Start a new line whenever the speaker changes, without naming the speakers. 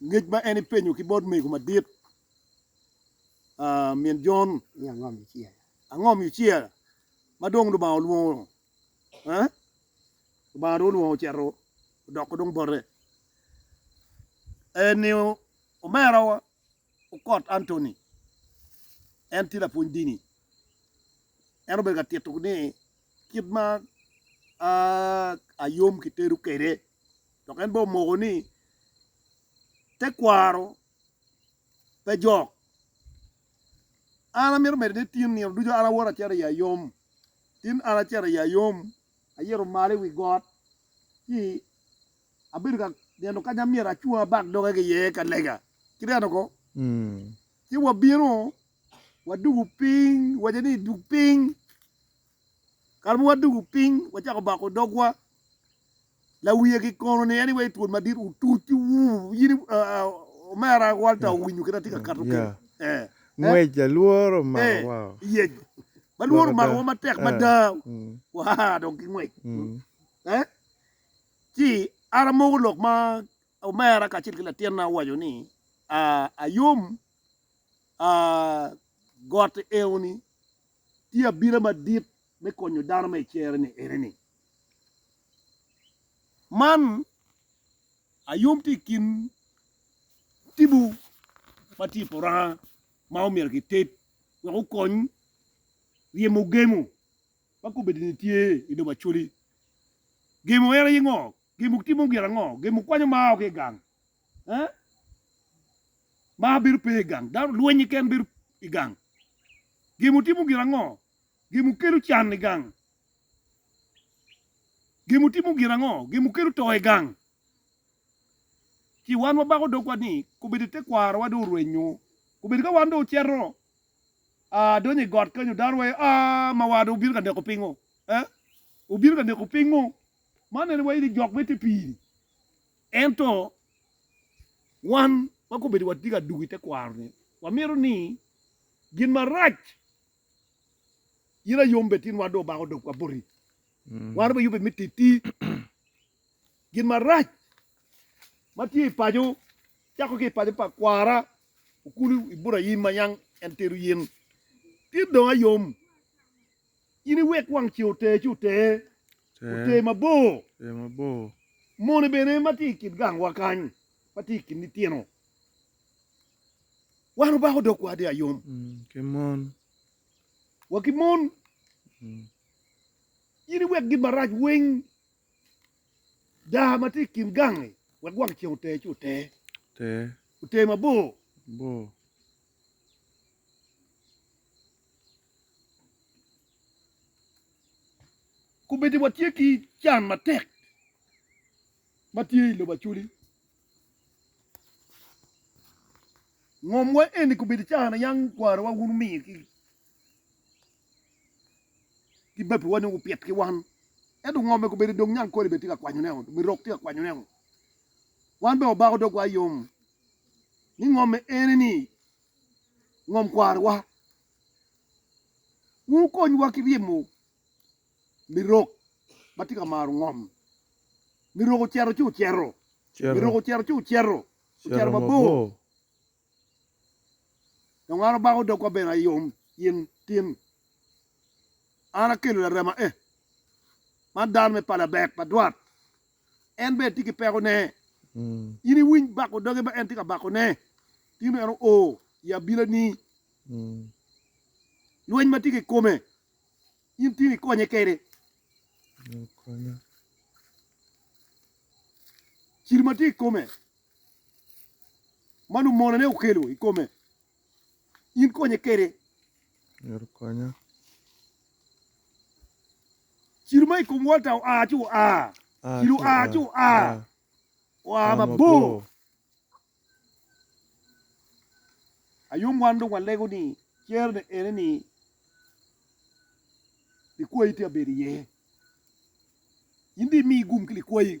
ngec ma en epenyo ki bot mego madit, min Jon, ni, Ango ma icer?
Ango ma icer
ma dong Lubanga olwongo? Eh? Lubanga dong olwongo ocito odoko dong bote. Eh, ni omerawa. Okot Anthony, en tye lapwony dini. En obedo ka tito ni kit ma ayom kitedo kwede dok en bene omoko ni tekwaro pe jok. An amito medo ni tin nino ducu an awoto acito i ayom. Tin an acito i ayom, ayito malo i wi got ci Abedo ka neno kanya myero acung abak doge ki iye ka lega ki neno ko, ci wabino wadugu piny, wace ni dug piny. Kare ma wadugu piny wacako bako dogwa, lawiye ki kono ni anyway twol madit otuc ci wuu in omera Walter owinyo kit atye ka kato keni. Ngwec
lalwor omako wa.
Ma lwor omako wa matek mada, waa dong ki ngwec. Ci an amoko lok ma omera kacel ki latinna owaco ni, Ayom, got enoni tye abila madit me konyo dano ma i cere-ni eneni. Man Ayom tye i kin tipo ma tye i Puranga ma omyero kited wek okony ryemo gemo. ma kobedini tye i lobo Acholi. Gemo en aye ngo? Gemo timo gin ango? Gemo kwanyo mar o ki i gang. Eh? Mar bedo pe i gang. Dano lweny keken bedo i gang. Gemo timo gin ango? Gemo kelo can i gang. Gemo timo gin ango? Gemo kelo to i gang. Ci wan wabako dogwa ni kobedi tekwarowa dong orwenyo. Kobedi ka wan dong ocito aa, adonyo i got kenyo, dano waye, aa, ma wada obino ka neko pingo? Eh? Obino ka neko pingo? Man en waye ni jok me te piri. Ento, wan ma kobedo watye ka dwogo i te kwaro-ni, wamito ni gin marac in ayom bed tinwa dong obako dogwa boti. Wan dong wayubbe me titi. Gin marac ma tye i paco, cako ki i paco pa kwara okulu Iburayim ma yam en tero yen. Tit dong ayom, in iwek wang ce oter ci oter, oter mabor. Moni bene ma tye i kin gangwa kany, ma tye i kin litino, wan obako dogwa dong ayom. Wa ki mon, in iwek gin marac weng. Daa ma tye i kin gangi wek wang ceng oter ci oter. Oter mabor. Kubedi watye ki can matek ma tye i lobo acoli, ngomwa eni kubedi caa na yam kwarowa wun wumiyo ki Gibabiwa ni gupit ki wan. Ento ngo omego bedo dong nyankole bene tye ka kwanyone-o, mirok tye ka kwanyone-o? Wan bene wabako dogwa yom ni ngomme ene-ni ngom kwarowa. Wun wukonywa ki ryemo mirok ma tye ka maro ngom. Mirok ocito ci ocito. Mirok ocito ci ocito. Ocito mabor. Dong an abako dogwa bene ayom gin tin. An akelo larema e, man dano me pala bek pa dwat, en bene tye ki peko ne. In iwiny bako doge ma en tye ka bako ne, tin en oo i abila ni. Lweny ma tye ki kome, in tin ikonye kede. Cil ma tye i kome. ma lumonone okelo i kome, in konye kwede. Myero okonya. Cilo ma i kom Walter oa ci oa. Ah, Cilo ci oa oa. ci oa. Ah, Oa ah, mabor. mabor. Ayom wan dong walego ni cerone ene ni likwayi tye ka bedo iye. In dong imi gum ki likwayi